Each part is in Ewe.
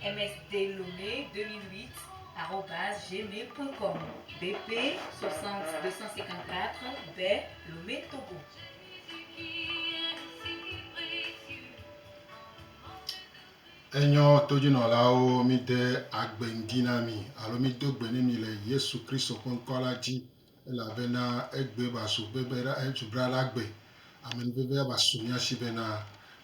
Msdelome 2008 arobase gmail point com BP 60 254 be Lome Togo. Enyɔ todzinɔlawo mide agbe ŋdi na mi alo mido gbe ne mi le Yesu Kristo ƒe ŋkɔ la dzi. Elabena egbe va su gbe be ɖa esu bra ɖa gbe. Ame ni veve ava su mía shi bena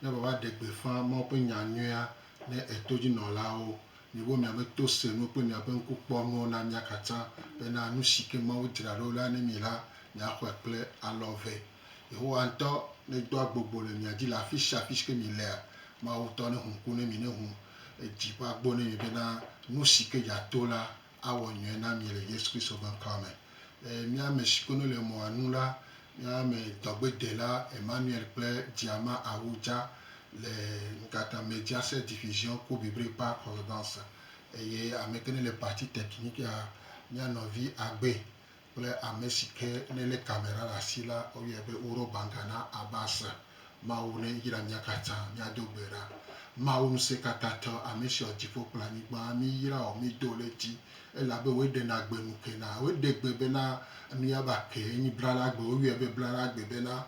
mía va va ɖe gbeƒã Mawu ƒe nya nyuia ne eto dzi nɔlawo. Miwo mía be to se nuwo kple mía ƒe ŋku kpɔ nuwo na mía katã bena nu si ke Mawu dzra ɖo la ne mi la mía xɔe kple alɔ eve. Yehowa ŋutɔ ne do agbogbo le mia dzi le afisia afi si ke mi lea, Mawu ŋutɔ ne hu ŋku ne mi ne hu edzi ƒe agbo ne mi bena nu si ke dza to la awɔ nyuie na mi le Yesu Kristo ƒe ŋkɔa me. Eye mía me siwo ne le mɔa nu la, mía me dɔgbedela Emmanuel kple Diama Ahuja le Nkata Mediase Division Kobibri Park Hollebans. Eye ame ke ne le Parti Technique ya, mía nɔvi Agbe kple ame si ke ne lé kamera ɖe asi la, woyɔe be Oro Banga na Abasa, Mawu ne yra mía katã, míado gbe ɖa. Mawu Ŋusẽkatãtɔ, ame si wɔ dziƒo kple anyigba, miyra wò, mido ɖe edzi, elabe wòe ɖena gbe nu kena. Woɖe gbe bena nu ya va ke, enyi blalagbe, woyɔe be blalagbe bena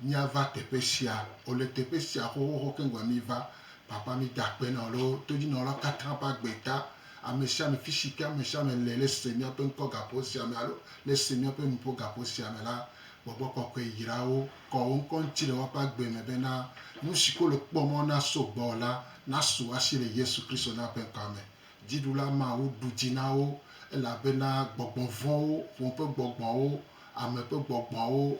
míava teƒe sia, wò le teƒe sia xoxoxo keŋ gɔme, miva, Papa, mida akpe na wò le wò todinɔlawo katã ƒe agbe ta, Ame sia ame, fi si ke ame sia ame le, le sue míaƒe ŋkɔ gaƒo sia me alo le sue míaƒe nuƒo gaƒo sia me la, gbɔgbɔ kɔkɔe yra wo, kɔ wo ŋkɔ ŋuti le woaƒe agbe me bena nu siwo wole kpɔ mɔ naso gbɔwò la nasu asi le Yesu Kristo na ƒe ŋkɔa me. Dziɖula mawo ɖu dzi na wo, elabena gbɔgbɔ vɔ̃wo, ƒome ƒe gbɔgbɔwo, ame ƒe gbɔgbɔwo,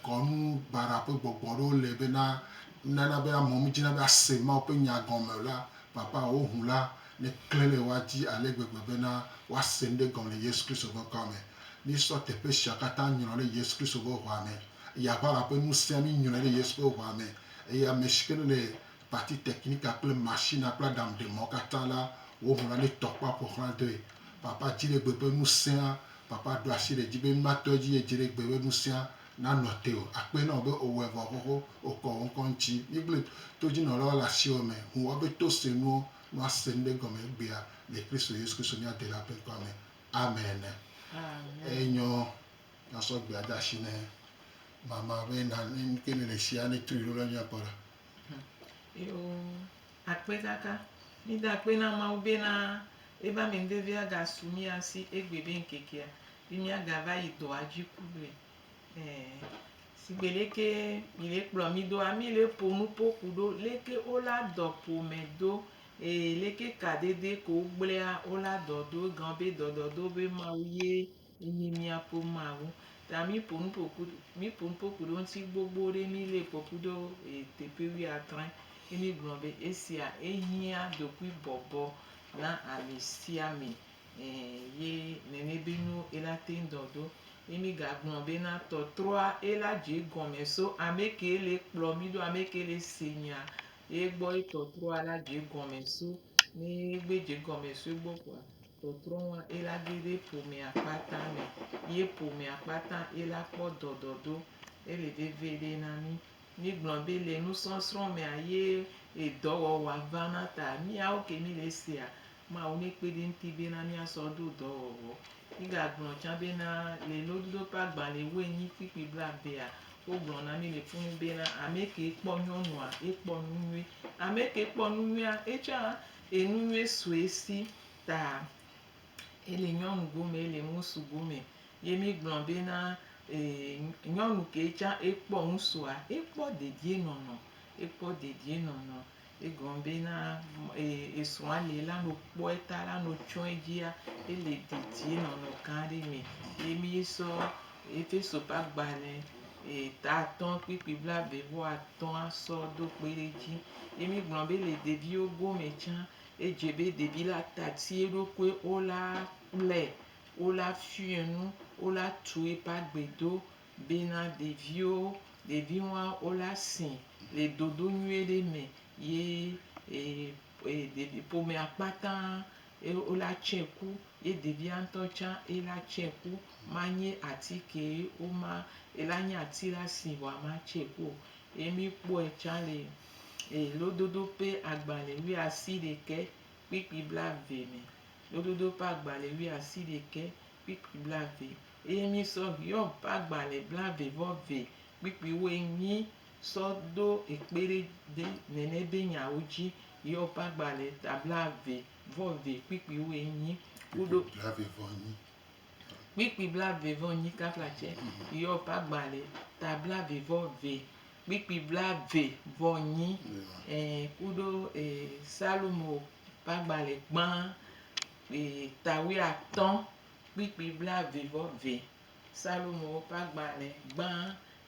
kɔnu baɖa ƒe gbɔgbɔ ɖewo le bena nana be amewo medzina be ase Mawu ƒe nya gɔme o la Papahoho la le klẽ be woadi ale gbegbe bena woase nu ɖe gɔme le Yesu Kristo ƒe ŋkɔa me. Míesɔ teƒe sia katã nyrɔ ɖe Yesu Kristo ƒe ʋɔa me, eye aʋala ƒe ŋusẽa mínyrɔe ɖe Yesu ƒe ʋɔa me, eye amesiwo ke le pati tekinika kple masina kple aɖaŋuɖemɔ̃wo katã la, wo ŋu la netɔ kpɔ aƒo xlã doe. Papa dziɖegbe ƒe ŋusẽa, Papa ɖo asi ɖe edzi be mímatɔ edzi eye dziɖegbe ƒe ŋusẽa nanɔ te o. Akpɔe na wò be òwɔe vɔ xoxo, wòkɔ wò ŋkɔ ŋuti. Míegblẽ todzinɔlawo le asiwò me ŋu woabe to sue nuwo nu ase nu ɖe gɔme egbea le Kristo Yesu Kristo mía Delã ƒe ŋkɔa me. Amen. Eye nyɔ nasɔ gbea de asi ne mama be na ne nuke ne le sia ne trui ɖo la nya kpɔ ɖa. Akpekaka. Mida akpe na Mawu bena eƒe amenuveve agasu mía si egbé be ŋkekea be míagava yi dɔa dzi kugble. Ɛɛ, sigbe leke mi le kplɔ mi doa, mi le ƒo nu ƒo ku ɖo leke wo la dɔ ƒome do eye leke kadede ke wo gblea wo la dɔ do. Egao be dɔdɔdo be Mawu ye. Yi mia po ma wu. Ta mi po nu po ku mi po nu po ku ɖe ŋuti gbogbo ɖe mi le po ku ɖo e teƒe wui atrɔe. Yi mi gblɔ be esia ehiã ɖokui bɔbɔ na ame sia ame e ye nene be nu ela te ŋu dɔ ɖo. Yi mi ga gblɔ be na tɔtrɔa ela dze egɔme so ame ke le kplɔ mi ɖo ame ke le se nya ye gbɔ ye tɔtrɔa la dze egɔme so. Ne gbe dze egɔme so egbɔ kpɔa. Tɔtrɔ wa ila geɖe ƒomea kpata me, ye ƒomea kpata ila kpɔ dɔdɔdo. Ele veviɖe na mí. Mí gblɔ be le nusɔsrɔ̃ mea ye edɔ wɔwɔa va na ta. Míawo ke mí le sea, Mawu ne kpe ɖe ŋuti be na mía sɔ ɖo dɔ wɔwɔ. Mí ga gblɔ tsã be na le lododo ƒe agbalẽ wu enyi kpui kpui bla vea, wo gblɔ na mí le ƒu nu be na ameke kpɔ nyɔnua, ekpɔ nu nyuie. Ameke kpɔ nu nyuia, etsã Eye nu nyui sue si ta ele nyɔnu gome, ele ŋusu gome. Ye mi gblɔ be na nyɔnu ke tsã ekpɔ ŋusua, ekpɔ dedie nɔnɔ, ekpɔ dedie nɔnɔ. Egɔme be na esrɔ̃a le la no kpɔe ta la no tsɔe dzia, ele dedie nɔnɔ gã ɖe me. Ye mi sɔ Efeso ƒe agbalẽ eta atɔ̃ kpukpui blaeve vɔ atɔ̃ asɔ do kpe ɖe edzi. Ye mi gblɔ be le ɖeviwo gome tsã, edze be ɖevi la tati eɖokui wo la kplɛ, wo la fiɔe nu, wo la tu eƒe agbe do be na ɖeviwo, ɖevi wa wo la si le dodo nyuie ɖe me ye e e ɖevi ƒomea kpata Ye wola tsɛ ku, ye ɖevia ŋutɔ tsã yela tsɛ ku. Manye ati kee woma, yela nye ati la si ŋɔa matsɛ ku o. Ye míkpɔe tsã le Lododo ƒe agbalẽ wuiasiɖekɛ kpukpui blaeve me. Lododo ƒe agbalẽ wuiasiɖekɛ kpukpui blaeve. Eye mísɔ Hiob ƒe agbalẽ blaeve-vɔ-ve kpukpuiwoe nyi sɔ do ekpe ɖe de nɛnɛ be nyawo dzi yɔ ƒe agbalẽ ta blave vɔ ve kpikpi wo enyi kuɖo kpikpi blave vɔ nyi kafla tsɛ yɔ ƒe agbalẽ ta blave vɔ ve kpikpi blave vɔ nyi ee kuɖo ee salomo ƒe agbalẽ gbã ee tawuiatɔ kpikpi blave vɔ ve. Psalmowo ƒe agbalẽ gbã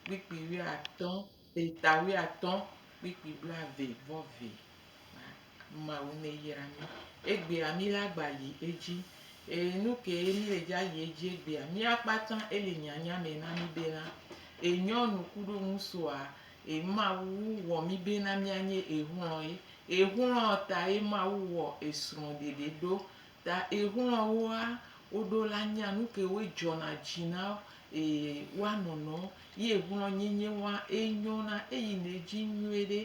kpukpui wuiatɔ̃ ƒe ta wuiatɔ̃ kpukpui blaeve vɔ vɛ ma, Mawu neyra mí. Egbea mí la gba yi edzi. Eye nu kee mí le dzi ayi edzi egbea? Mía kpata ele nyanya me na mí bena, enyɔnu kuɖo ŋusua e Mawu wɔ mí bena mía nye exlɔe. Exlɔ tae Mawu wɔ esrɔ̃ɖeɖe ɖo Ta exlɔa woa woɖo la nyea nuke wo edzɔna dzi na e woa nɔnɔ yi exlɔ nyenye woa enyɔna eyi ne edzi nyuie ɖe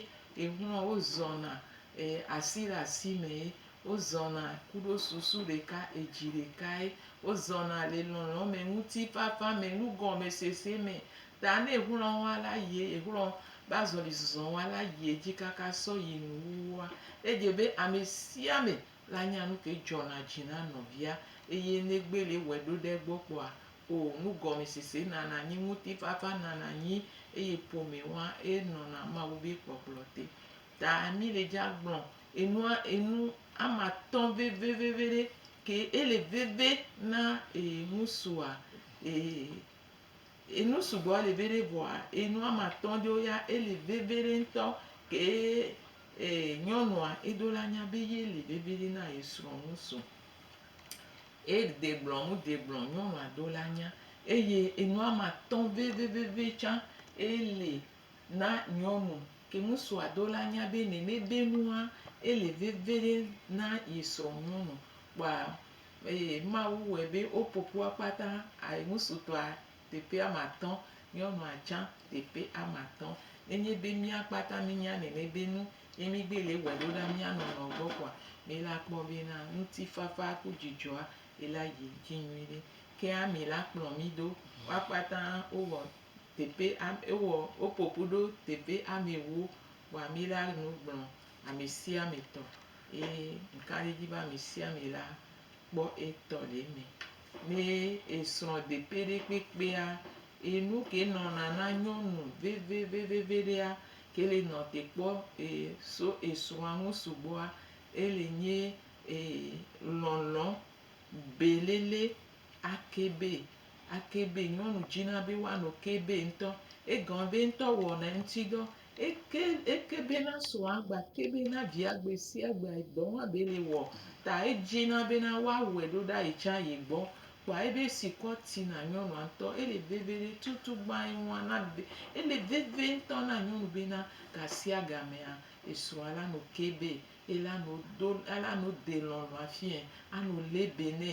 exlɔa wo zɔna e asi ɖe asi me ye wo zɔna kuɖo susu ɖeka edzi ɖeka ye wo zɔna le lɔlɔ me ŋuti fafa me nu gɔme sese me ta ne exlɔ woa la yie exlɔ be azɔli zɔzɔ woa la yie dzi kaka sɔ yi nu wu woa edze be amesia ame La nya nu ke dzɔna dzi na nɔvia, eye negbeli wɔe ɖo ɖe egbɔ kpɔa? O, nugɔmesese nana anyi, ŋutifafa nana anyi, eye ƒome wa enɔna Mawu be kpɔkplɔ te. Ta mi le dza gblɔ enua enu ama tɔ̃ veveveveɖe ke ele veve na e ŋusua e. Enu sugbɔ li veɖe vɔa enu ame atɔ̃ ɖewo ya eli veviɖe ŋutɔ kee e nyɔnua eɖo la nya be ye li veviɖe na ye srɔ̃ nu so. E de gblɔ nu de gblɔ nyɔnua ɖo la nya eye enu ame atɔ̃ vevevevi tsã eli na nyɔnu ke ŋutsua ɖo la nya be nene be nua eli veviɖe na ye srɔ̃ nyɔnu kpɔa Eye Mawu wɔe be woƒo ƒu akpata ayi ŋutsutɔa teƒe ame atɔ̃, nyɔnua tsã teƒe ame atɔ̃. Nenye be mía kpata míenya nene be nu ye mígbe le wɔe ɖo ɖa mía nɔnɔ gbɔ koa, mi la kpɔ be na ŋutifafa ku dzidzɔa yi la yi dzi nyuiɖe. Ke ami la kplɔ mi do. Wo akpata wowɔ teƒe am wowɔ woƒo ƒu ɖo teƒe ame ewo. Kpɔ ami la nu gblɔ amesiametɔ eye ŋkaɖedzi be amesiame la kpɔ etɔ le eme. Ne esrɔ̃ deƒe ɖe kpekpea, e nuke nɔna na nyɔnu veveveveɖea, ke le nɔ te kpɔ e so esrɔ̃a ŋu sugbɔa, ele nye e lɔlɔ belele ake be ake be nyɔnu dzina be woano ke be ŋutɔ. Egɔme be ŋutɔ wɔna eŋutidɔ Eke eke bena srɔ̃a gba te be na via gbe sia gbe dɔ wɔa be le wɔ ta edzi na bena wa wɛ ɖo ɖa yi tsã yi gbɔ kpɔa ebe si kɔ ti na nyɔnua ŋtɔ ele veve ɖe tutu gba yi ŋua na be ele veve ŋtɔ na nyɔnu bena gasia gamea esrɔ̃a la no ke be ela no do ela no de lɔlɔa fiɛ ano le be nɛ.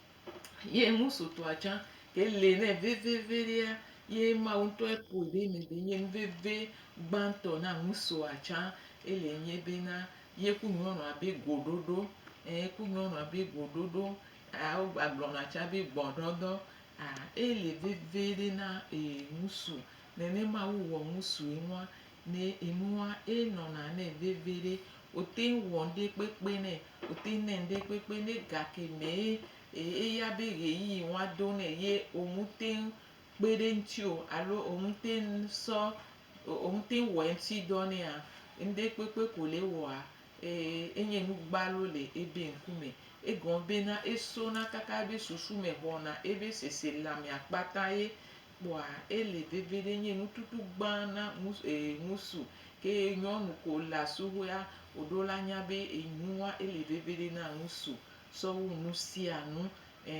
Ye ŋusutɔa tsã ke li nɛ veveveɖea, ye Mawu ŋutɔe ƒoe ɖe eme be nye nuveve gbãtɔ na ŋusua tsã ele nye bena, ye ku nyɔnua be goɖoɖo, ɛɛ ku nyɔnua be goɖoɖo, ɛɛ wogagblɔna tsã be gbɔɖɔdɔ. Aa ele veveɖe na ee ŋusu. Nenema wowɔ ŋusue nua, ne enua, enɔna nɛ veviɖe. Wòteŋ wɔ ŋɖekpekpe nɛ, wòteŋ nɛ ŋɖekpekpe nɛ gake mee eya be ɣeyiɣi woa do nɛ ye woŋteŋ kpe ɖe ŋuti o alo woŋteŋ sɔ woŋteŋ wɔe ŋuti dɔ nɛa, ŋɖekpekpe ko le ewɔa, enye nu gbalo le ebe ŋku me. Egɔme bena esona kaka ebe susu me xɔna ebe seselea mea kpata ye Kpɔa ele veve ɖe nye nututu gbã na ŋus e ŋusu ke nyɔnu ko le asuhɔea o ɖo la nya be enua ele veve ɖe na ŋusu sɔ wu nu sia nu ɛ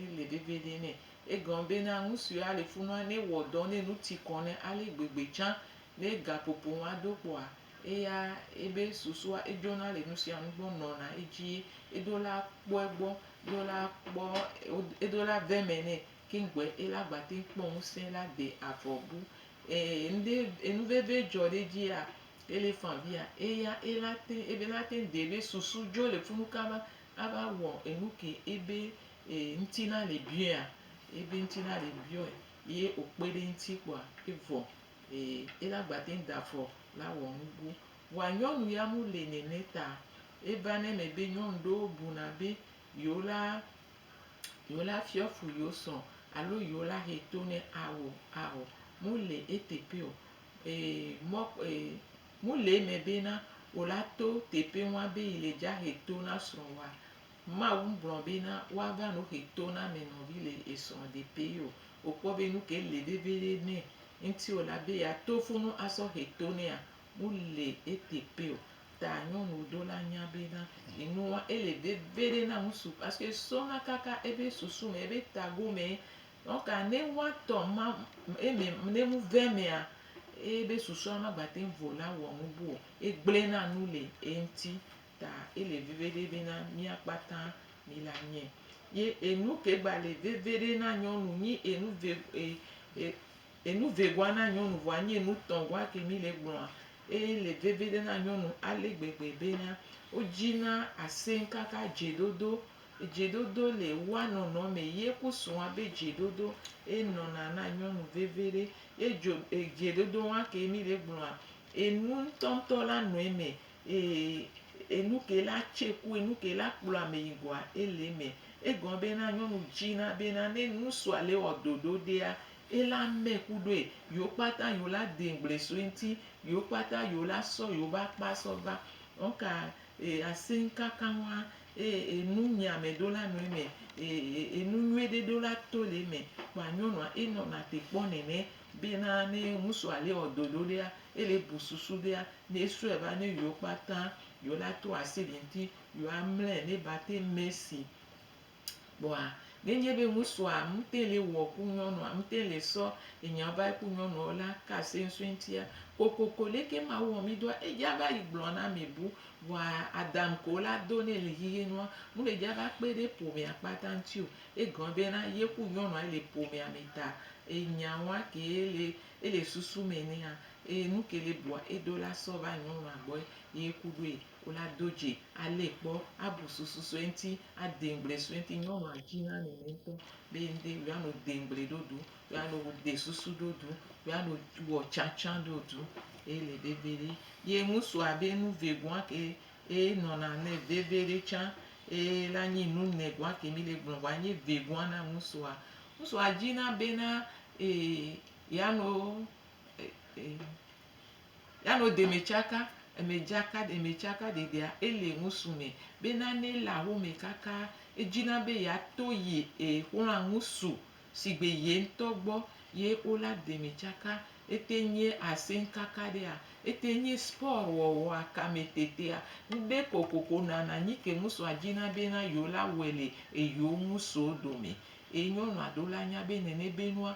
ele veve ɖe nɛ. Egɔn be na ŋusue ale funua ne wɔ dɔ ne nu ti kɔn nɛ ale gbegbe tsã ne gaƒoƒo ŋua do kpɔa eya ebe susua edzona le nu sia nu gbɔ nɔna edzii eɖo la kpɔe gbɔ ɖo la kpɔ eɖo la veme nɛ Kiŋgbe ela agba teŋ kpɔ ŋusẽ la de avɔ bu ee ŋɖe enu veve dzɔ ɖe edzia ele fã via eya ela teŋ ebe ela teŋ de ebe susu dzo le funu kaba ava wɔ enu ke ebe e ŋti na le biɔea ebe ŋti na le biɔe ye okpe ɖe ŋti kpɔa evɔ ee ela agba teŋ da avɔ la wɔ nu bu wa nyɔnu ya mu le nɛnɛ ta eva ne me be nyɔnu ɖewo buna be Yewo la, yewo la fiɔ fu yewo srɔ̃ alo yewo la he to nɛ ao, ao, mu le eteƒe o. E mɔ e mu le eme bena wo la to teƒe ŋua be yi le dza he to na srɔ̃wòa? Mawu ŋgblɔ bena woava no he to na ame nɔvi le esrɔ̃ ɖeƒe o. Wokpɔ be nu ke le veviɖe nɛ ŋuti o la be yeato funu asɔ he to nɛa? Mu le eteƒe o. Ta nyɔnu ɖo la nya be na enua ele veviɖe na ŋutsu parce que sɔna kaka ebe susu me ebe tago me donc ne woa tɔ ma eme ne nu vɛ mea ebe susua magbate ŋu vɔ la wɔ nu bu o egble na nu le eŋti ta ele veviɖe be na mía kpata mi la nye ye enu ke gba le veviɖe na nyɔnu nyi enu ve e e. Enu vegɔa na nyɔnu vɔa nye enu tɔ̃ gɔa ke mi le gblɔa eye le veviɖe na nyɔnu ale gbegbe bena wo dzi na asẽŋ kaka dzeɖoɖo. Dzeɖoɖo le woa nɔnɔ me ye ku srɔ̃a be dzeɖoɖo ye nɔna na nyɔnu veviɖe ye dzo dzeɖoɖo wa ke mi le gblɔa enu ŋtɔ ŋtɔ la nɔ eme eye enu ke la tse ku enu ke la kplɔ ame yi gɔa ele eme. Egɔ bena nyɔnu dzi na bena ne ŋusua le wɔ ɖoɖoɖea Ye la mɛ ku ɖoe, yewo kpata yewo la dee gble so eŋti, yewo kpata yewo la sɔ yewo be akpa sɔ va. Ŋka e asin kaka ŋua, eye enu nyi amɛ ɖo la nɔ emɛ, e e enu nyuie ɖe ɖo la to le emɛ. Kpoa nyɔnua e nɔ na te kpɔ nɛnɛ be na ne ŋusu a le wɔ dɔ ɖo ɖea, e le bu susu bea ne e sɔɛ va ne yewo kpata yewo la to asi ɖe ŋti, yewo a mlɛ ne ba te mɛsi. Kpɔa, ne nye be ŋusua ŋutɛn le wɔ ku nyɔnua, ŋutɛn le sɔ enya va yi ku nyɔnua o la, ka se ŋsue ŋtia? Kokoko leke Mawu wɔ mi doa? Edja va yi gblɔ na ame bu, vɔa Adam ko la do ne le xixi nua, mle dja va kpe ɖe ƒomea kpata ŋti o. Egɔme be na ye ku nyɔnua ye le ƒomea me ta. Enya wa ke le ele susu me nea, eye nuke le bua eɖo la sɔ va nyɔnua gbɔe ye ku ɖoe. Wole ado dze alé kpɔ abu susu sue ŋti ade ŋgble sue ŋti nyɔnua dji na nene ŋtɔ be ŋde yɔa no de ŋgble ɖo ɖu yɔa no de susu ɖo ɖu yɔa no wɔ tsatsa ɖo ɖu ye le veveɖe ye ŋusua be nu ve gɔa ke ye nɔna nɛ veveɖe tsa ye la nyi nu nɛ gɔa ke mi le gblɔ vɔa nyi ve gɔa na ŋusua ŋusua dji na be na yɔa no Ya no deme tsaka, eme dzaka deme tsaka dedea ele ŋusu me be nane le awo me kaka edzina be ya to yi e xlɔa ŋusu sigbe ye ŋtɔ gbɔ ye o la deme tsaka ete ŋye aseŋ kaka ɖea ete ŋye spɔr wɔwɔa kame tetea ŋde kokoko nana nyike ŋusua dzina be na yo la wɛ le eyo ŋusuo dome e nyɔnua ɖo la nya be nene be nua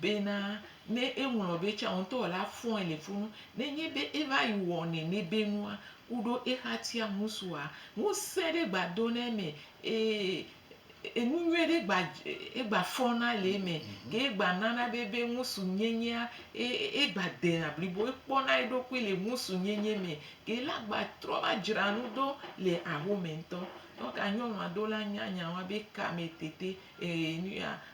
Bena ne eŋlɔ be tsã ŋutɔ la fɔe le funu. Nenye be eva yi wɔ nenebe nua ku ɖo exatia ŋu sua, ŋusẽ ɖe gba dona eme eye enu nyuie ɖe gba egba fɔna le eme. Ke egba nana be be ŋusu nyenyea egba dena blibo. Ekpɔna eɖokui le ŋusu nyenye me. Ke la gba trɔ va dzra nu do le axome ŋutɔ. Donka nyɔnua do la nya nya wa be kame tete e nuya.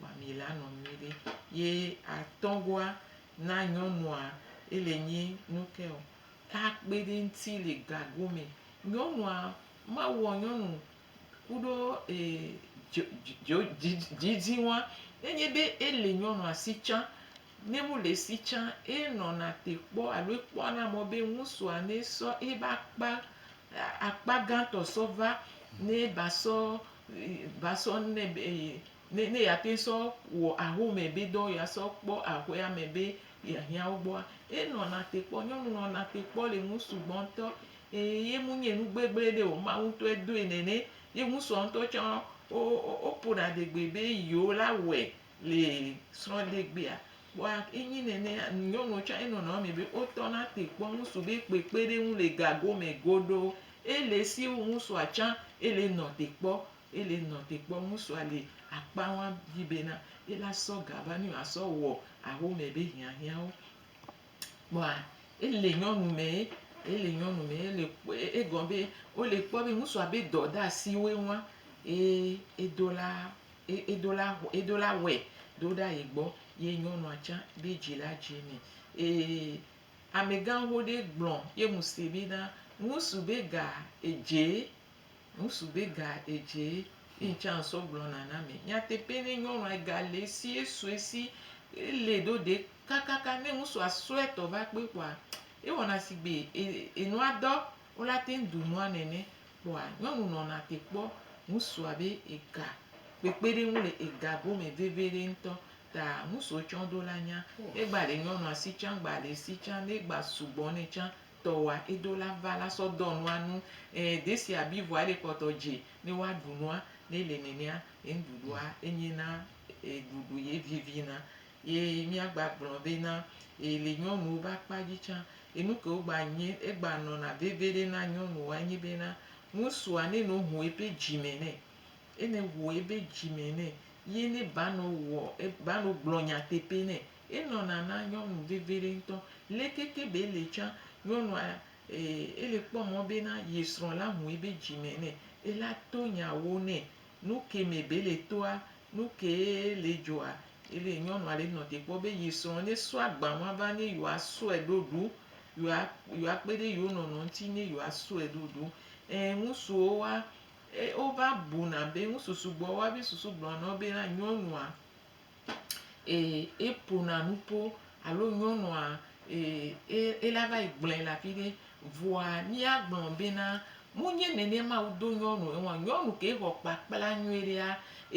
Mami la nɔ nyuiɖe. Ye atɔgoa na nyɔnua ele nyi nuke o. Takpe ɖe ŋti le gago me. Nyɔnua ma wɔ nyɔnu kuɖo djidji ŋua. Ne nye be ele nyɔnua si tsã, ne mu le si tsã, e nɔna te kpɔ alo e kpɔ na mɔ be ŋusua ne sɔ eba kpa akpa gãtɔ sɔ va ne ba sɔ va sɔ nɛ be ye ne ne yeate ŋu sɔ wɔ ahome be dɔ yeasɔ kpɔ aƒea me be yeahiã wo gbɔa, enɔna te kpɔ. Nyɔnu nɔna te kpɔ le nu sugbɔ ŋutɔ. Eye ye menye nu gbegblẽ ɖe o, Mawu ŋutɔe doe nɛ. Ne ye ŋusua ŋutɔ tsã wo wo woƒona adegbe be yewo la wɔe Le srɔ̃degbea, kpɔa enye nene nyɔnuwo tsã enɔ nɔnɔme me be wotɔna te kpɔ ŋutsu be kpekpeɖeŋu le gago me godoo. Ele si wu ŋutsua tsã ele nɔ te kpɔ ele nɔ te kpɔ ŋutsua le akpa wa dzi bena ela sɔ ga va ne yewoasɔ wɔ axome be hiahiãwo. Kpɔa ele nyɔnu me ele nyɔnu me ele kpɔ egɔ be wole kpɔ be ŋutsua be dɔdeasiwoe wa ye edo la. Ye edo la xɔ, edo la wɔe do ɖa ye gbɔ, ye nyɔnua tsã be dzi la dze mɛ. Eye amegãxo ɖe gblɔ ye ŋu se be na, Ŋusu be ga edzee, ŋusu be ga edzee. Ye ŋtsã ŋsɔ gblɔ na na mɛ. Nyateƒe ne nyɔnua ega le esi ye sɔe si, ele ɖo ɖe kakaka ne ŋusua sɔe tɔ va kpe kpɔa, ewɔna sigbe e, enua dɔ Wola teŋ ɖu nua nɛnɛ kpɔa nyɔnu nɔna te kpɔ ŋusua be ega kpekpeɖeŋu le ega gome veviɖe ŋtɔ ta ŋusuo tsã do la nya egba le nyɔnua si tsã gba le si tsã ne gba sugbɔ nɛ tsã tɔwoa edo la va la sɔ dɔ nua nu e desia bi vɔa ele kpɔtɔ dze ne woa ɖu nua ne le nɛnɛa eŋɖuɖua enye na e ɖuɖu ye vivina. Ye mía gba gblɔ be na ye le nyɔnuwo be akpa dzi tsã, ye nu kewo gba nye egba nɔna veviɖe na nyɔnuwoa enye be na ŋusua ne no ho ebe dzi me nɛ, ye ne ho ebe dzi me nɛ, ye ne ba nɔ wɔ eb ba nɔ gblɔ nyateƒe nɛ, enɔna na nyɔnu veviɖe ŋutɔ. Leke ke be ele tsã, nyɔnua e ele kpɔ mɔ be na ye srɔ̃ la ho ebe dzi me nɛ, ela to nyawo nɛ, Nu ke me be le toa, nu ke le djoa, ele nyɔnua le nɔ te kpɔ be yi srɔ̃ ne sɔ agba ma va ne yewoa sɔe ɖo ɖu, yewoa, yewoa kpe ɖe yewo nɔnɔ ŋuti ne yewoa sɔe ɖo ɖu. Ẽ, ŋutsuwo wa, e, wova buna be, ŋutsu sugbɔ wa be susu gblɔna na wo be na nyɔnua ee, eƒona nu po alo nyɔnua ee, ela va yi gblɔe le afi ɖe. Vɔa míagblɔ bena, Menye nenema wodo nyɔnu ŋu o. Nyɔnu ke xɔ kpakpla nyuie ɖea,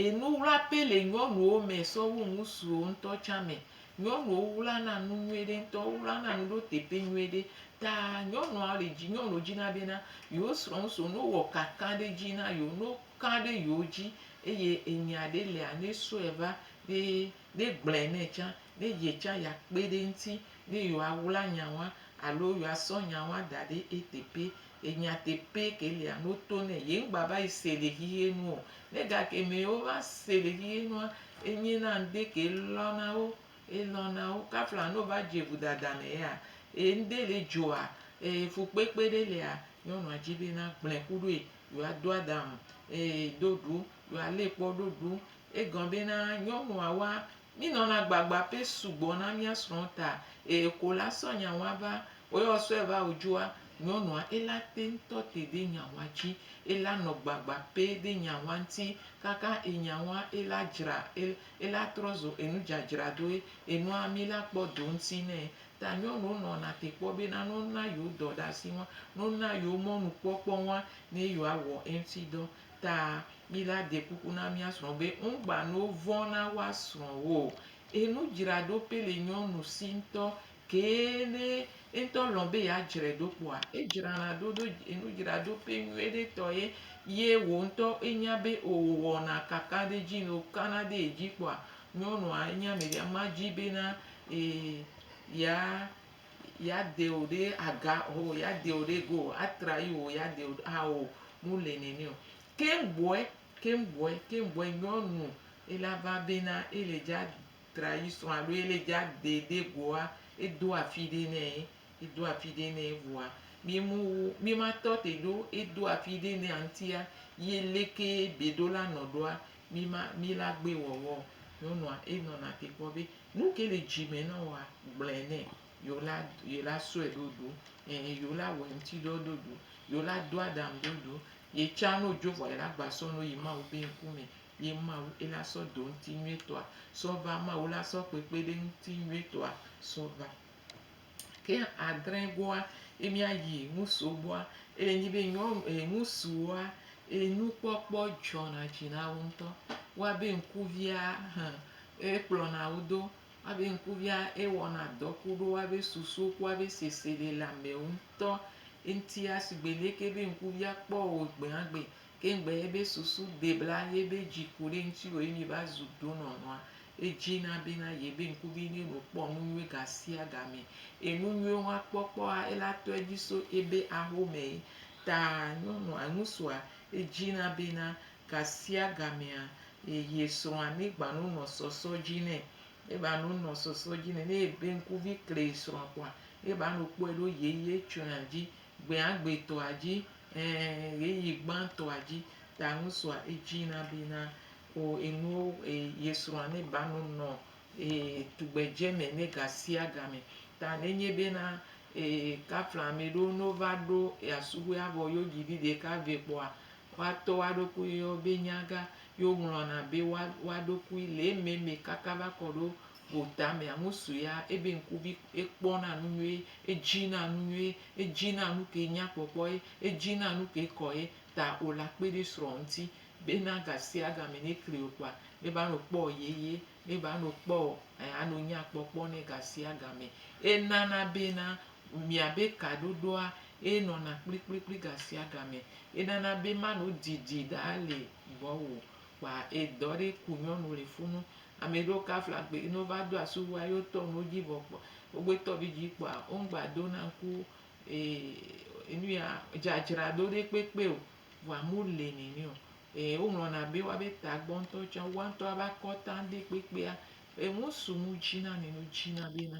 enu wlaƒe le nyɔnuwo me sɔ wu ŋutsuwo ŋutɔ tsã me. Nyɔnuwo wlana nu nyuie ɖe ŋutɔ. Wowlana nu ɖo teƒe nyuie ɖe. Ta nyɔnuawo le dzi, nyɔnuwo dzina bena yewo srɔ̃ ŋutsu ne wowɔ kaka ɖe edzi na yewo, ne wo kã ɖe yewo dzi eye enya aɖe lia, ne esɔe va, ne negblɔe nɛ tsã, ne ye tsã yeakpe ɖe eŋuti, ne yewoawla nya wa alo yewoasɔ nya wa da ɖe eteƒe. Enya teƒee ke lia, ne woto nɛ. Ye ŋgbava yi se le xexeɛ nu o. Ne gakeme wova se le xexeɛ nua, enye na ŋɖe ke elɔ̃ na wo, elɔ̃ na wo. Kafla ne wova dze vodada me yea, ŋɖe le dzɔa, fukpekpe ɖe lia, nyɔnua dzi be nagblɔe ku ɖoe. yo a do ada ŋ e do ɖo yo a le kpɔ ɖo ɖo e gɔn be na nyɔnu a wa mi nɔ na gbagba pe sugbɔ na mi a srɔ ta e ko la sɔ nya wa va o yɔ sɔɛ va o djoa nyɔnu a e la te ŋtɔ te de nya wa dji e la nɔ gbagba pe de nya wa ŋti kaka e nya wa e la djra e la trɔ zo enu djadjra doe enua mi la kpɔ do ŋti nɛ. Ta nyɔnuwo nɔna te kpɔ bena ne wona yewo dɔɖasi ŋua, ne wona yewo mɔnukpɔkpɔ ŋua, ne yewoawɔ eŋuti dɔ. Ta mí la de kuku na mía srɔ̃wo be, ŋugba ne wovɔ̃ na woa srɔ̃wo o. Enudzraɖo pɛ le nyɔnu si ŋutɔ kee ne eŋutɔ lɔ̃ be yeadzrae ɖo kpɔa, edzrana ɖo ɖo enudzraɖo pɛ nyuiɖe tɔ ye, ye wò ŋutɔ enya be o wòwɔna kakaɖedzi. Ne wòkana ɖe ye dzi kpɔa, Nyɔnua enye ame ɖe, ma dzi bena ya ya de wò ɖe aga ho ya de wò ɖe go a tra yi wò ya de wò ɖe ao mu le nɛnɛ o. Ke ŋgbɔɛ ke ŋgbɔɛ ke ŋgbɔɛ nyɔnu e la va bena e le dza tra yi srɔ̃ alo e le dza de ɖe goa e do afi ɖe nɛ e do afi ɖe nɛ vɔa mi mu mi ma tɔ te ɖo e do afi ɖe nɛa ŋtia yi leke be ɖo la nɔ ɖoa Mi ma mi la gbe wɔwɔ o. Nyɔnua e nɔ na te kpɔ be nuke le dzi me nɔ woa, gblɔɛ nɛ. Yo la yo la sɔɛ ɖo ɖu. Ɛ yo la wɛ ŋti ɖɔ ɖo ɖu. Yo la do aɖaŋ ɖo ɖu. Ye tsa no djo vɔa yi la gba sɔ no yi Mawu be ŋku me. Ye Mawu e la sɔ do ŋti nyuitɔa sɔ va. Mawu la sɔ kpekpe ɖe ŋti nyuitɔa sɔ va. Ke adrẽ goa, ye mía yi ŋusu gbɔa, eye nyi be nyɔnu, e, ŋusuwoa, e, nukpɔkpɔ dzɔna dzi na wo ŋutɔ. Woa be ŋkuvia hẽ, e kplɔna wo do. Woa be ŋkuvia e wɔna dɔ ku ɖo woa be susu ku woa be sese le le amewo ŋutɔ ŋutia. Sigbe leke be ŋkuvia kpɔ wò gbea gbe, Ke ŋgbe ye be susu debla ye be dzi ku ɖe ŋutiwò ye mi va zu donɔnɔa, edzi na bena ye be ŋku vi ne no kpɔ nu nyuie ga sia ga me. Enu nyuie hɔn kpɔ kpɔa ele atɔ edzi so ebe ahome ta nyɔnua ŋusua edzi na bena ga sia ga mea ye srɔa ne gba no nɔ sɔsɔ dzi nɛ. Ne ba no nɔ sɔsɔ dzi nɛ ne ye be ŋku vi kle ye srɔa kpɔa ne ba no kpɔe ɖo ye ye tsoea dzi gbea gbetɔa dzi Ẽ, ɣeyiɣi gbãtɔa dzi ta ŋutsua edzi na be na o enuwo e ye srɔ̃a ne ba nu nɔ e tugbedze me ne gasiagame. Ta nenye be na e kafla ame ɖewo ne wova ɖo ea subɔe avɔ yewo dzi vi ɖeka vɛ kpɔa, woa tɔ woa ɖokui yɔ be nyaga, yo ŋlɔna be woa woa ɖokui le eme me kaka va kɔ ɖo Wò tamea ŋu suea ebe ŋkuvi ekpɔna nu nyuie, edzina nu nyuie, edzina nu ke nya kpɔkpɔ ye, edzina nu ke kɔ ye ta o la kpe ɖe srɔ̃ ŋuti bena gasiagame ne kli wò kpɔa ne va nɔ kpɔ yeye, ne va nɔ kpɔ eh anɔ nya kpɔkpɔ nɛ gasiagame. Enana bena miabe kaɖoɖoa ye nɔna kplikplikpli gasiagame. Enana be manɔ didi ɖa le gbɔwò o. Kpa edɔ ɖe ku nyɔnu le funu. Ame ɖewo kafla gbe yi ne wova do asi wu ayi wotɔ nu dzi vɔ kpɔ wogbe tɔ vi dzi kpɔa womgba do na ŋku ee nu ya dzadzraɖo ɖe kpekpe o vɔa mu le nene o. Ee woŋlɔna be woabe tagbɔ ŋutɔ tsã woa ŋutɔ woabe akɔta ŋɖe kpekpea eŋu su nu dzi na nene wodzina be na.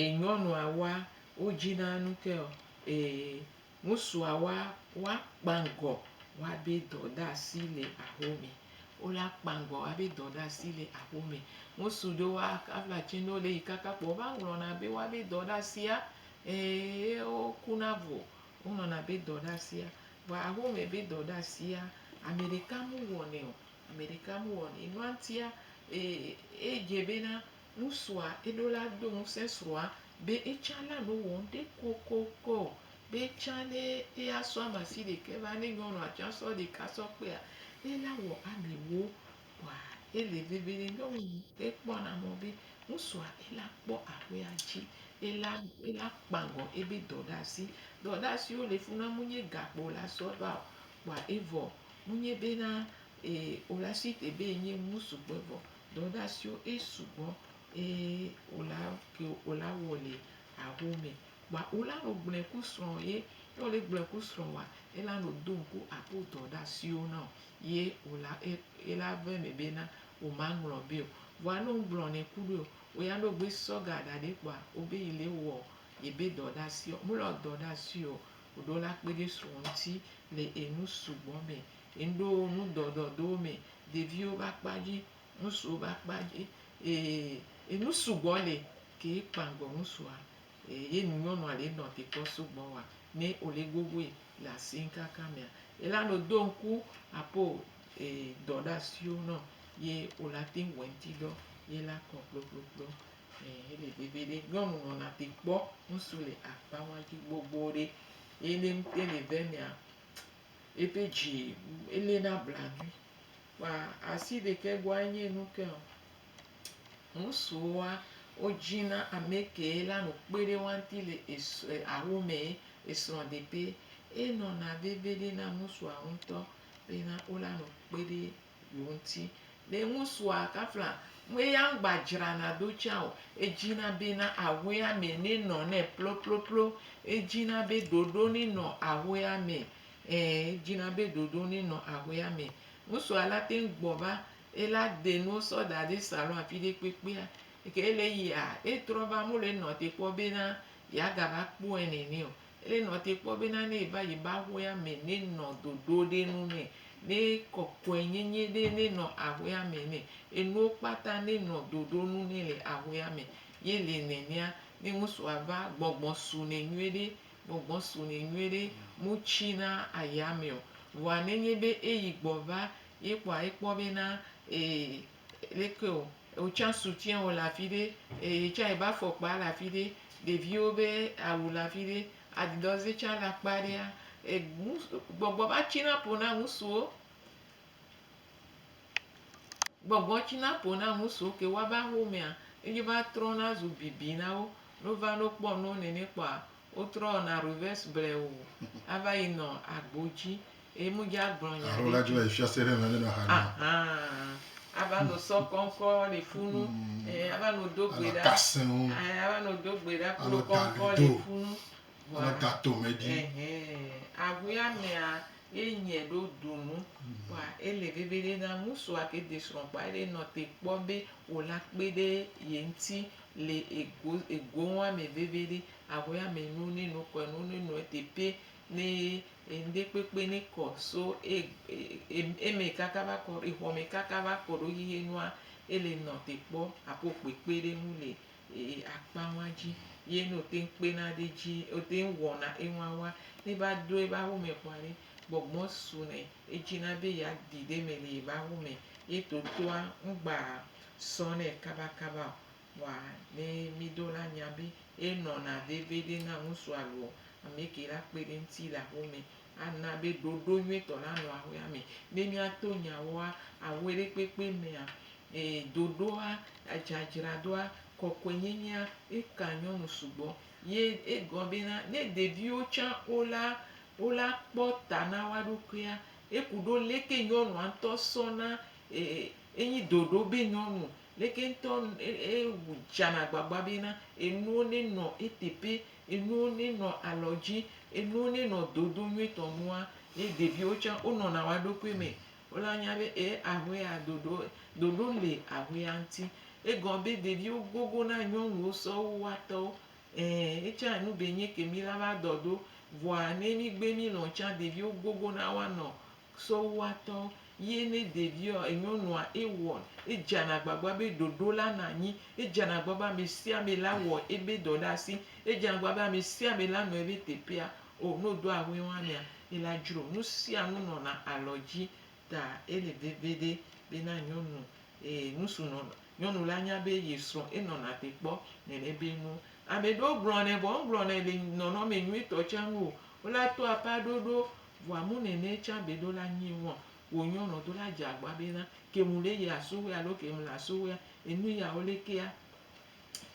E nyɔnua wa wo dzi na nu ke ɔ e ŋusua wa wa kpangɔ wa be dɔ ɖa si le aho me. Wo la kpangɔ wa be dɔ ɖa si le aho me. Ŋusu ɖe wa ka vla tse no le yi kaka kpɔ va ŋlɔ na be wa be dɔ ɖa sia e wo ku na vo. Wo ŋlɔ na be dɔ ɖa sia. Vɔ aho me be dɔ ɖa sia ameɖeka mu wɔ nɛ o. Ameɖeka mu wɔ nɛ. Enua ŋutia e e dze be na Ŋutsua ɖo la do ŋusẽ srɔ̃a be etsã nanɔ wɔ ŋɖe kokoko be etsã ne eya sɔ ame asi ɖekɛ va ne nyɔnua tsã sɔ ɖeka sɔ kpea ela wɔ amewo kɔa ele veve ne nyɔnu ekpɔ na mɔ be ŋutsua ela kpɔ aƒea dzi ela ela kpagɔ ebe dɔ ɖe asi dɔ ɖe asiwo le funa mu nye gakpo la sɔ va o kpɔa evɔ mu nye be na e o la si te be enye ŋutsu gbɔ evɔ Dɔdasiwo e sugbɔ e ola ke ola wɔ le aho me. Kpoa ola nɔ gblɔɛ ku srɔ ye ne wole gblɔɛ ku srɔ wa ela nɔ do ŋku aƒo dɔdasiwo nao ye ola e ela vɛ mɛ be na woma ŋlɔ beo. Vɔa ne ŋgblɔ nɛ ku ɖoeo oya ne ogbe sɔ ga ɖa ɖɛ kpoa obe yi le wɔ yebe dɔdasiɔ mele wɔ dɔdasio oɖo la kpeɖe srɔ ŋti le enu sugbɔ mɛ. Ŋɖo ŋudɔdɔ do mɛ, ɖeviwo be akpa dzi, ŋusuwo be akpa dzi, ye nu sugbɔ le ke ye kpa ŋgɔ ŋusua, ye nu nyɔnua le nɔ te kpɔ sugbɔ wa ne wo le gogoe le asinkaka mea, ela nɔ do ŋku apo dɔ ɖe asiwo nɔ ye wo la te wɔ eŋti dɔ ye la kɔ kplokplokplo. Ele be veɖe nyɔnu nɔna te kpɔ ŋusu le akpa wa dzi gbogbo ɖe ye ne ŋte le vɛ mea Ebe dzi ele na blanuie kpa asi ɖekɛ gbɔa enye nu ke o. Ŋusuwoa wo dzi na ame ke la nu kpe ɖe woa ŋuti le esrɔ̃ awo me esrɔ̃ ɖe ƒe. Enɔna veve ɖe na ŋusua ŋutɔ be na wo la nu kpe ɖe. ŋuti. Ɖe ŋusua kafla ŋue ya ŋgba dzrana do tsã o. Edzina bena ahɔea me ne nɔ nɛ ploploplo. Edzina be ɖoɖo ne nɔ ahɔea me. Ẽ, edzina be ɖoɖo ne nɔ ahɔea me. Ŋusua la te ŋu gbɔ va ye la de nuwo sɔ da ɖe salon afi ɖe kpekpea. Eke ele yia, etrɔ va mole nɔ te kpɔ bena yeagava kpɔe nene o. Ele nɔ te kpɔ bena ne eva yi be aƒea me ne nɔ dodo ɖe nu nɛ, ne kɔkɔe nyenye ɖe ne nɔ aƒea me nɛ, enuwo kpata ne nɔ dodo nu nɛ le aƒea me. Ye le nenea, ne ŋusua va, gbɔgbɔ su nɛ nyuie ɖe, gbɔgbɔ su nɛ nyuie ɖe, mu tsi na aya me o. Vɔa ne nye be eyi gbɔ va, ye kpɔa ekpɔ bena e Leke wò tsã soutien wò le afi ɖe, eye tsã ebe afɔkpa le afi ɖe, ɖeviwo be awu le afi ɖe, adidas ye tsã le akpa ɖea, enu gbɔgbɔ va tsina ƒo na ŋutsuwo, gbɔgbɔ tsina ƒo na ŋutsuwo ke woava xomea, ye va trɔna zu bibi na wo, ne wova ne wokpɔ nuwo nene kpɔa. Wotrɔ na reverse ble o ava yi nɔ agbo dji eye mu dja gblɔ nya ɖe dji ahan ava no sɔ kɔnkɔ le funu eh ava no do gbe ɖa eh ava no do gbe ɖa kple kɔnkɔ le funu vɔa eh ahuɛ amɛa ye nyɛ ɖo ɖunu vɔa ele veviɖe na ŋusua ke de srɔ kpɔa ele nɔ te kpɔ be wola kpeɖe ye ŋti le ego ego ŋu ame veviɖe aho ame nu ne nu kɔ nu ne nua teƒe ne enuɖe kpekpe ne kɔ so e eme kaka va kɔ exɔ me kaka va kɔ ɖo xexe nua ele nɔ te kpɔ aƒo kpekpe ɖe ŋu le e akpa ŋua dzi ye no te kpena ɖe dzi o te wɔna enua wa ne va do eva ho me kɔa ɖe gbɔgbɔ su nɛ edzina be ya ɖi ɖe me le eva ho me ye totoa ŋgba sɔ nɛ kabakaba o. Vɔa ne mí ɖo la nya be e nɔna veviɖe na ŋusu alo ame ke la kpe ɖe eŋuti le aƒe me. A na be ɖoɖo nyuitɔ la nɔ aƒea me. Ne mía to nya woa, aƒe ɖe kpekpe mea, ee, ɖoɖoa, dzadzraɖoa, kɔkɔe nyenyea, e ka nyɔnu sugbɔ. Ye e gɔ be na, ne ɖeviwo tsã wo la, wo la kpɔ ta na woa ɖokuia, e ku ɖo leke nyɔnua ŋutɔ sɔ na enyi ɖoɖo be nyɔnu leke ŋutɔ edzana agbagba bena enuwo nenɔ eteƒe, enuwo nenɔ alɔ dzi, enuwo nenɔ dodo nyuitɔ nua, ye ɖeviwo tsã wonɔna woa ɖokui me. Wo la nya be e aƒe ya ɖoɖo, ɖoɖo le aƒea ŋuti. Egɔ be ɖeviwo gogo na nyɔnuwo sɔ wu woa tɔwo. Eee ye tsã enu be nye ke mí la va dɔ ɖo. Vɔa ne mí gbe mí lɔ̃ tsã ɖeviwo gogo na woanɔ Sowatɔ ye ne ɖevia ɔ enyɔnua ewɔn edzana gbagba be ɖoɖo la nɔ anyi, edzana gbagba be amesiame la wɔ ebe dɔ ɖe asi, edzana gbagba be amesiame la nɔ ebe teƒea o ne wodo ahuɛo amea ela dzro nusianu nɔna alɔdzi ta ele veviɖe bena nyɔnu nusu nɔna nyɔnu la nya be ye srɔ enɔna te kpɔ nɛnɛ be nuo. Ameɖewo gblɔnɛ vɔ megblɔnɛ le nɔnɔme nyuitɔ tsa nu o wola to aƒea ɖoɖo Vɔa mu nɛnɛ tsan be ɖo la nyi wɔn wo nyɔ nɔ do la dze agba be na ke mu le yi aso wea lo ke mu le aso wea enu ya wo le kea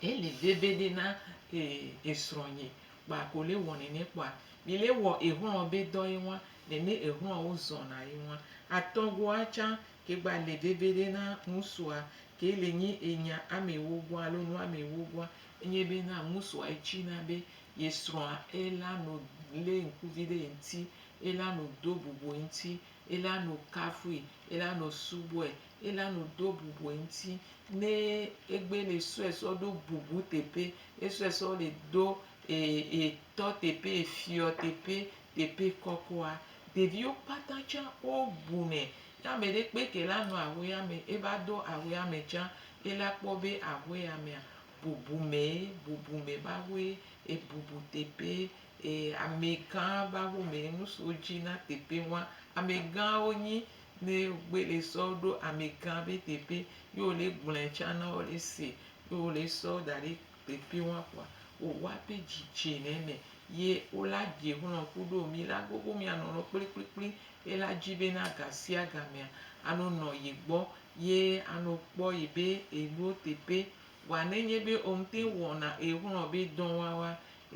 e li veve ɖe na e esrɔ nyi kpa ko le wɔ nɛnɛ kpɔa mi le wɔ ehlɔ be dɔ ye ŋwa nɛnɛ ehlɔ wo zɔn na ye ŋwa atɔ goa tsan ke gba le veve ɖe na ŋusua ke le nyi enya ame wo goa alo nu ame wo goa enye be na ŋusua etsi na be Ye srɔ̃a, ela no lé ŋkuvi ɖe ye ŋuti, ela no do bubu ye ŋuti, ela no kafui, ela no subɔe, ela no do bubu ye ŋuti. Ne egbe le sɔe sɔ ɖo bubu teƒe, esɔe sɔ le do etɔ teƒe, efiɔ teƒe, teƒe kɔkɔa, ɖeviwo kpata tsã wo bunɛ. Ne ame ɖe kpe ke la nɔ ahuea me, eva do ahuea me tsã, ela kpɔ be ahuea mea, Bubume, bubume mawoe ebubu teƒe e amegã mawo me nu siwo dzi na teƒe wa. Amegãwo nyi ne wogbe le sɔ ɖo amegã be teƒe ye wo le gblɔe tsã na wo le se ye wo le sɔ da ɖe teƒe wa kpoa wowa be dzi dze le eme ye wo la dze xlɔ kuɖo mi la gbogbo mia nɔ nɔ kplikplikpli ye la dzi be na gasiagamea ano nɔ ye gbɔ ye ano kpɔ yi be enuwo teƒe. Vɔa nenye be omte ŋu wɔna exlɔ be dɔwawa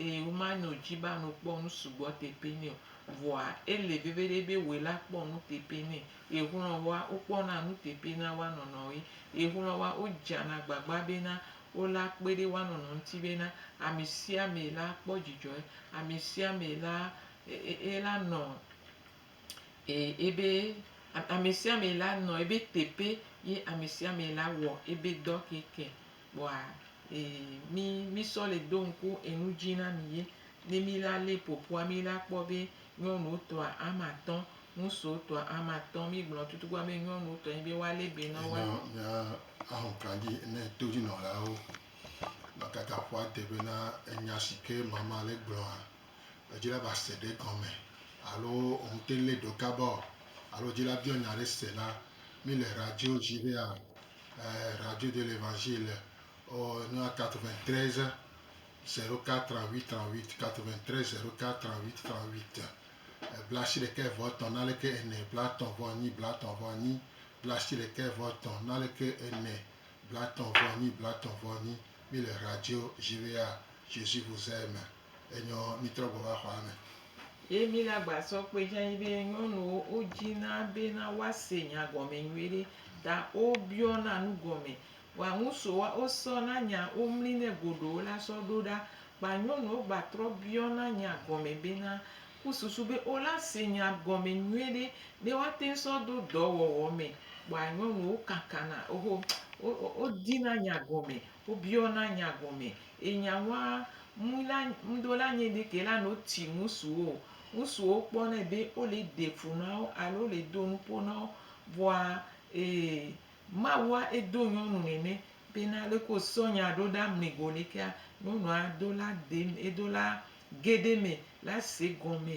eye womano dzi be ano kpɔ nu sugbɔ teƒe nɛ o, vɔa ele veveɖe be wòe la kpɔ nu teƒe nɛ. Exlɔwoa wokpɔna nu teƒe na woa nɔnɔ ɣi. Exlɔwoa wodzana agbagba bena wo la kpe ɖe woa nɔnɔ ŋuti bena amesiame la kpɔ dzidzɔe, amesiame la e e e la nɔ Ee, ebe amesiame la nɔ ebe teƒe ye amesiame la wɔ ebe dɔ keke kpɔa, ee, mi, mi sɔ le do ŋku enu dzi na mi ye. Ne mi la le ƒoƒua, mi la kpɔ be nyɔnuwo tɔa ame atɔ̃, ŋutsuwo tɔa ame atɔ̃, mi gblɔ tutugbã be nyɔnuwo tɔ ye be woa le be nɔ woa. Mía ahlɔ̃kla dzi ne todzinɔlawo va kaka ƒua te be na enya sike mama le gblɔa. Edzila va se ɖe gɔme alo wòŋte lé ɖo kaba o alo edzila biɔ nya ɖe se la, mí le radio dzi be a ee radio de l'Evangile le ɔ nua 93 04 38 93 04 38 38 blaasiɖe ɖekɛ vɔ etɔ̃ naleke ene blatɔ̃ vɔ enyi blatɔ̃ vɔ enyi blaasiɖe ɖekɛ vɔ etɔ̃ naleke ene blatɔ̃ vɔ enyi blatɔ̃ vɔ enyi mí le radio dzi be a Jésus vous aime. Enyɔ mitrɔ gbɔ va xɔa me. Ye mi le agba sɔ kpe dzi anyi be nyɔnuwo wo dzi na be na woa se nya gɔme nyuie ɖe ta wo biɔ na nu gɔme. Wa ŋusu wa wo sɔ na nya wo mli nɛ goɖo wo la sɔ ɖo ɖa. Kpa nyɔnu wo gba trɔ biɔ na nya gɔme be na ku susu be wo la se nya gɔme nyuie ɖe ne woa teŋ sɔ do dɔ wɔwɔ me. Kpɔa nyɔnu wo kakana wo ho wo di na nya gɔme Wobiɔna nya gɔme. Enya wa ŋu la ŋdo la nye ɖe ke la no tsi ŋusuwo. Ŋusuwo kpɔ nɛ be wo le ɖe fu na wo alo wo le do nupo na wo. Vɔa e Mawua e do nyɔnu nɛnɛ be na leke wo sɔ nya ɖo ɖa mli go lekea nyɔnua do la de edo la ge ɖe me la se gɔme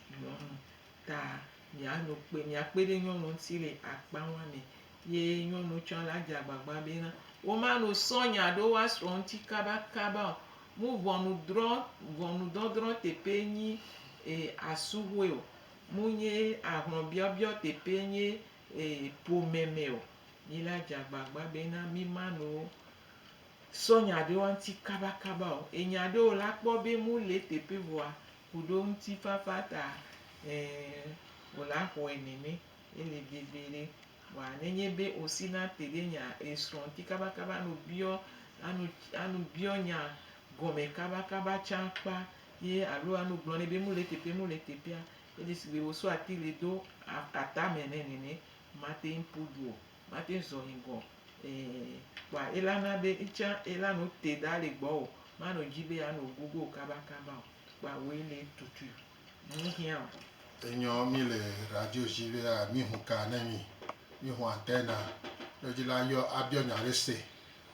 Nyɔnu ta mia no kpe mia kpe ɖe nyɔnu ŋuti le akpa ma me ye nyɔnu tsã la dze agbagba be na wo ma no sɔ nya ɖo wa srɔ ŋuti kaba kaba o. Mu ʋɔnu drɔ ʋɔnu dɔdrɔ teƒe nyi e asuhoe o. Mu nye ahlɔ biɔbiɔ teƒe nye e ƒome me o. Mi la dze agbagba be na mi ma no sɔ nya ɖe wa ŋuti kaba kaba o. Enya ɖewo la kpɔ be mu le teƒe vɔa. Ku ɖe ŋutifafa ta, ɛ̃, wòle axɔe nɛ mɛ. Ele veve ɖe. Vɔa ne nye be osi na te ɖe nya esrɔ̃ ŋuti kabakaba ne wòbiɔ, anu, anu biɔ nya gɔme kabakaba tsã kpa ye alo anu gblɔ nɛ be nu le teƒe, nu le teƒea, edze sigbe wòsɔ ati le do a, atame nɛ nene, mate ŋu ƒu du o. Mate zɔ yi gɔ ee. Kpoa ela na be etsã ela no te da le gbɔ o. Ma no dzi be ya no gogo o kaba kaba o. Kpoa woe le tutui. Ŋu hiã o. Enyɔ mi le radio dzi be a mi hu ka ne mi. Mi hu antɛna. Ɖo dzi la yɔ a biɔ nya ɖe se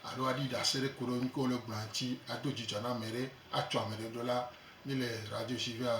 alo a ɖi ɖase ɖe koɖo nuke wo le gblɔa ŋtsi a do djidjɔ na mɛɖe a tsɔ amɛɖe ɖo la mi le radio dzi be a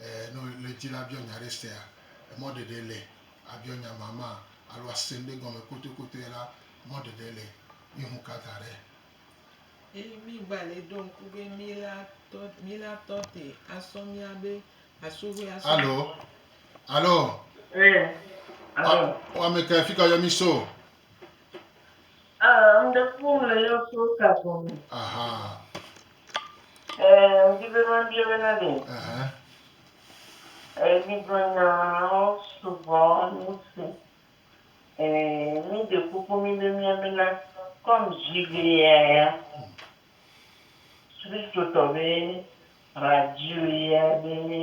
Ɛɛ, ne wòle edzi la, abiɔ nya ɖe sea? Emɔ ɖeɖe le. Abiɔ nya mamã alo ase ŋɖe gɔme kotokotoe la, mɔ ɖeɖe le. Míexu ka da ɖe. Eye mígbalẽ ɖo ŋku be mílatɔ, mílatɔ te asɔ míabe asoxoe asɔ. Alo? Alo? Ɛɛ, alo? Wa, wameka, fika yɔ míso? Ah, ame ɖe ƒo nu le yɔ so ka gɔme. Aha. Eh, mdi be mabia be na ɖe. Aha. Eh, bigro nyawo sugbɔ nusi. Eh, mi de kuku mi be mia be na kɔm zi be ya ya. Kristo tɔ be radio ya be ne.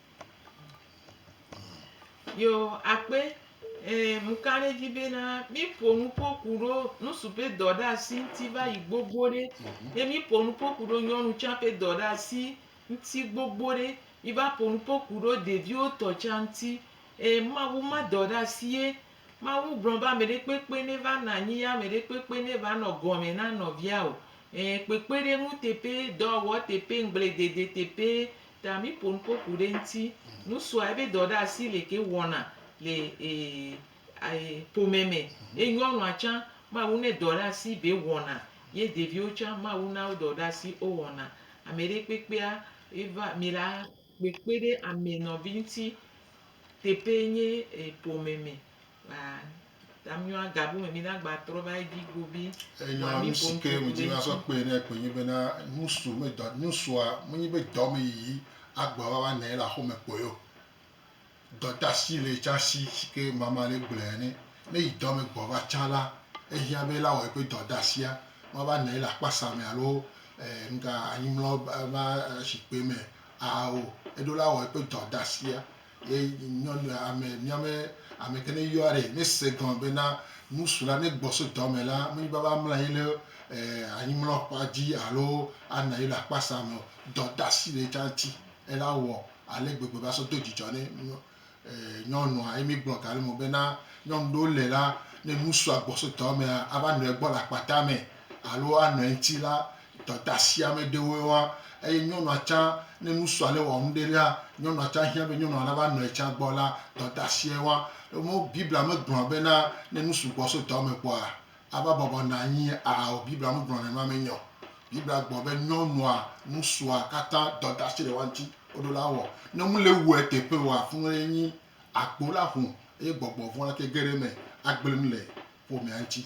Yo akpe eh, mukan edzi bena míƒo nu ƒo ku ɖo nusu ƒe dɔ ɖe asi ŋuti va yi gbogbo ɖe. Ye míƒo nu ƒo ku ɖo nyɔnu tsã ƒe dɔ ɖe asi ŋuti gbogbo ɖe. Míva ƒo nu ƒo ku ɖo ɖeviwo tɔ tsã ŋuti. Eh, Mawu ma dɔ ɖe asi ye. Mawu gblɔ be ame ɖekpekpe neva nɔ anyi ye ame ɖekpekpe neva nɔ gɔme na nɔvia o. Eh, kpekpeɖeŋu teƒe, dɔwɔwɔ teƒe, ŋgbledede teƒe, Ta mi ƒo nuƒo ku ɖe ŋti. Nu sua ebe dɔ ɖe asi le ke wɔna le e ƒome me. Ye nyɔnua tsã Mawu ne dɔ ɖe asi be wɔna. Ye ɖeviwo tsã Mawu na wo dɔ ɖe asi wo wɔna. Ame ɖe kpekpea eva mi la kpekpe ɖe ame nɔvi ŋti. Teƒe nye ƒome me. Enyɔ nu si ke ŋuti míasɔ kpee na ye kpoe nye bena, Nu su me dɔ, nu sua menye be dɔ me yiyi agblɔ be woanɔ anyi ɖe aƒe me kpɔe o. Dɔdeasi le tsã si si ke mama le gblɔe ene. Ne yi dɔ me gbɔ va tsã la, ehiã be la wɔ eƒe dɔdeasia wòava nɔ anyi ɖe akpasa me alo ŋka anyimlɔ ƒe zikpui me aa o. Eɖo la wɔ eƒe dɔdeasia Ye nyɔnu ame miame ame ke ne yɔa ɖe ne se gɔme be na nusu la ne gbɔ so dɔ me la menyi be ava mla yi le anyimlɔ kpa dzi alo ana yi le akpa sa me o. Dɔ dasi le etsa ŋti ela wɔ ale gbegbe va sɔ do dzidzɔ ne nyɔnua ye mi gblɔ ga le me be na nyɔnu ɖewo le la ne nusua gbɔ so dɔ mea ava nɔe gbɔ le akpa tame alo anɔe ŋti la Dɔdasiame ɖewoe wa eye nyɔnua tsã ne nusua le wɔ nuɖe ɖea, nyɔnua tsã hiã be nyɔnua nava nɔ ye tsã gbɔ la, dɔdasiae wa. Ɖe Biblia megblɔa bena ne nu sugbɔ so dɔ me kpɔa ava bɔbɔ nɔ anyi ao. Biblia megblɔ nenema me nyo. Biblia gblɔ be nyɔnua nusua katã dɔdasi ɖe wa ŋti woɖo la wɔ. Ne nu le wɔ eteƒe oa funu ye nyi agbo la ƒo eye gbɔgbɔ vɔ̃ la ke ge ɖe eme agble nu le ƒomea ŋti.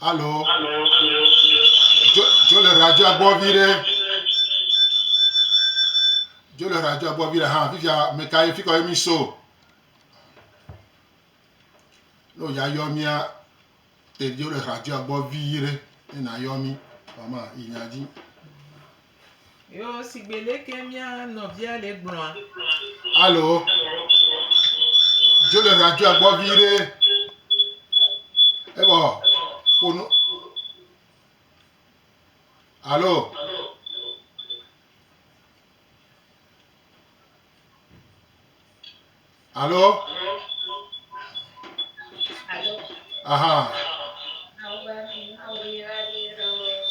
Alo. Dzo le radioa gbɔ vi ɖe. Dzo le radioa gbɔ vi ɖe hã. Fifia meka ye fikɔ ye mi so. No ya yɔ mia. Te dzo le radioa gbɔ vi ɖe. Ena yɔ mi. Mama inya dzi. Yo sigbe leke mía nɔvia le gblɔa. Alo, dzo le radioa gbɔ vi ɖe. Ebɔ, ƒonu. Alo. Alo? Alo? Aha.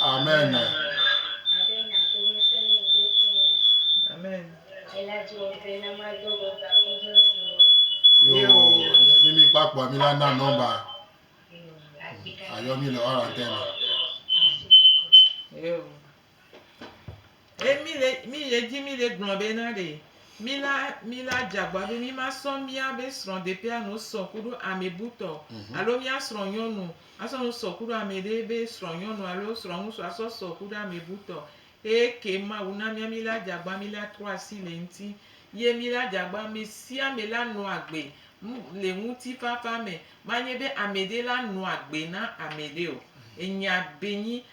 Amen. Amen. Yo, ne mi kpa kpɔ mi la na nɔmba. Ayɔ mi le ɔrantɛni. Yo. Ye mí le, mí le edzi mí le gblɔ be na ɖe, mí la, mí la dze agbagba be mí ma sɔ míabe srɔ̃ɖeƒea nu sɔ kuɖo amebu tɔ o. Alo mía srɔ̃nyɔnu asɔ nu sɔ kuɖo ameɖe be srɔ̃nyɔnu alo srɔ̃ŋutsu asɔ sɔ kuɖo amebu tɔ o. Eye ke Mawu na mía mí la dze agbagba mí la trɔ asi le eŋuti. Ye mí la dze agbagba ame sia ame la nɔ agbe le ŋutifafa me. Manye be ameɖe la nɔ agbe na ameɖe o. Enya be nyi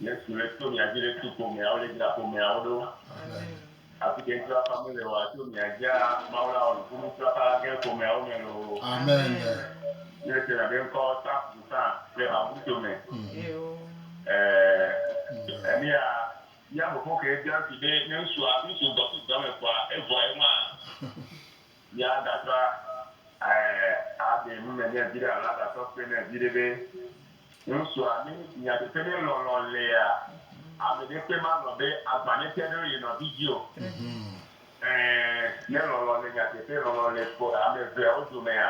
Yesu le tso mia dzi le tu ƒomea wole dzra ƒomea wo ɖo. Afi ke ŋuti wafa mele wa tso mia dzia Mawu la wɔ nuku ŋuti wafa la gɛn ƒomea wo me loo. Amen. Ne se na be ŋkɔ sa fu sa le ha ŋuti to me. Ɛɛ emia ya fofo ke bia ŋuti be ne ŋsua ŋsu gbɔ fi dɔ me kɔa evua ye ŋua. Mía dasɔ a ɖe nu me nɛ viɖe alo a dasɔ kpe nɛ viɖe be ŋusua mi nu si nya ɖe ƒe ne lɔlɔ lea, ame ɖe kpe ma lɔn be agba ne te ɖe ye nɔvi dzi o. Ɛɛ, ne lɔlɔ le nya teƒe, lɔlɔ le ame eveawo domea?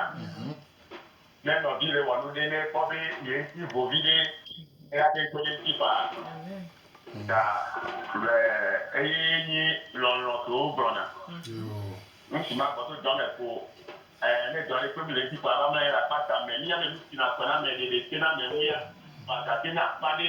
Ne nɔvi ɖe wɔ nu ɖe ne ekpɔ be ye ŋuti vo viɖe eye ate ŋu kpe ɖe eŋuti faa ta le eyee nye lɔlɔ̃ si wogblɔna nu si magbɔ to dɔ me ko. Ɛ̃, ne dɔ aɖe kpem le edzi ko ava mlɔ anyi ɖe akpata me. Mía me nu sina kɔ na ame ɖeɖe, ke na ame ŋu ya, ko agate na akpa aɖe.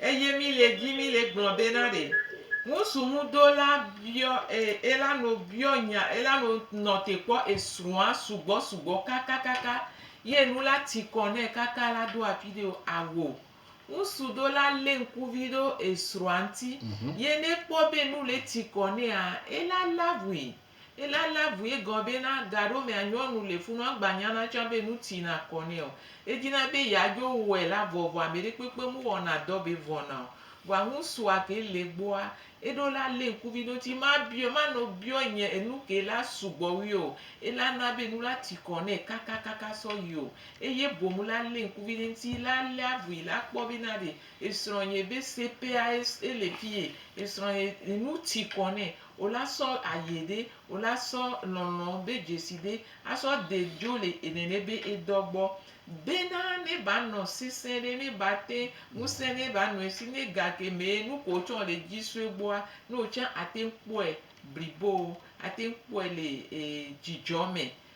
Eye mi le di mi le gblɔ be na ɖe ŋusu ŋu do la biɔ e e la no biɔ nya e la no nɔ te kpɔ esrɔa sugbɔ sugbɔ kakakaka ye nu la ti kɔ nɛ kaka la do afi ɖe o awo ŋusu do la le ŋkuvi ɖo esrɔa ŋti ye ne kpɔ be nu le ti kɔ nɛa e la la ŋui. Ela lé avu egɔme be na gaɖo mea nyɔnu le funu agba nyana tsã be nu tsina kɔ nɛ o. Edina be yeadzo wɔe la vɔ vɔ ameɖe kpekpe mu wɔna dɔ be vɔna o. Vɔa ŋusua ke le gbɔa eɖo la le ŋkuvi ɖo ŋti ma biɔe ma nɔ biɔe nye enu ke la sugbɔ wui o. Ela na be nu la tsi kɔ nɛ kaka kaka sɔ yi o. Eye boŋ la le ŋkuvi ɖe ŋti la lé avui la kpɔ be na ɖe esrɔ̃ nye be sepeae ele fiye esrɔ̃ nye nu tsi kɔ nɛ Wo la sɔ aye ɖe, wo la sɔ lɔnlɔ be dzesi ɖe, a sɔ de dzo le enene be edɔ gbɔ. Be na ne ba nɔ sese ɖe, ne ba te ŋuse ne ba nɔe si ne gake me nuko wo tsɔ le dzi sɔe gbɔa, ne wo tsã a te kpɔe blibo, a te kpɔe le e dzidzɔ me.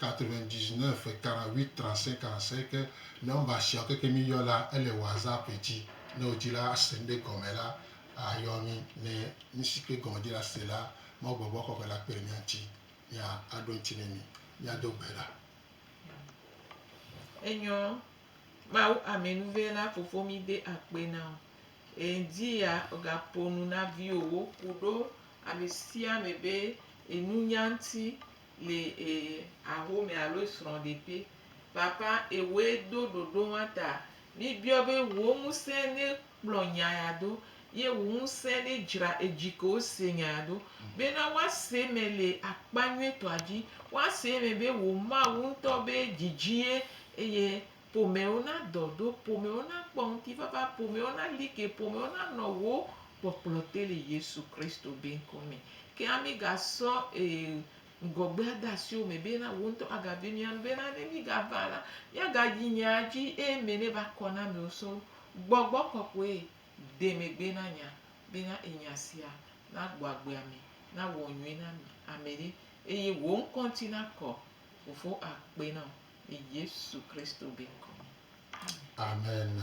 99 48 35 45 ke number siawo keke mi yɔ la ele whatsapp dzi ne wo dzi la ase nuɖe gɔme la ayɔ mi ne nusike gɔme dzi la se la mawu gbɔgbɔ kɔkɔe la kpe ɖe mia ŋuti mia aɖo ŋuti ne mi mia do gbe la enyɔ mawu amɛnuve la fofo mi de akpe na o edi ya oga ponu na viwo wo ku ɖo amesiame be enunya ŋuti le e axome alo esrɔ̃ɖeƒe. Papa, ewɔe do ɖoɖo ma ta. Míbiɔ be wò ŋusẽ ne kplɔ nya ya do, ye wò ŋusẽ ne dzra edzi ke wose nya ya do, bena woase eme le akpa nyuietɔa dzi, woase eme be wò Mawu ŋutɔ be dzidzie, eye. Ƒomewo nadɔ ɖo, ƒomewo nakpɔ ŋutifafa, ƒomewo nali ke, ƒomewo nanɔ wò kpɔkplɔ te le Yesu Kristo be ŋkɔ me. Ke ami ga sɔ ee ŋgɔgbea de asi wò me be na wò ŋutɔ aga vi mia nu be na ne mi ga va la, mia ga yi nya dzi eye ame ne va kɔ na amewo sɔ wu. Gbɔgbɔ kɔkɔe de megbe na nya be na enya sia na gbɔ agbea me, na wɔ nyuie na ame ɖe eye wò ŋkɔ ŋuti nakɔ. Fofo akpe na wò. le Yesu Kristo be ŋkɔ me. Amen.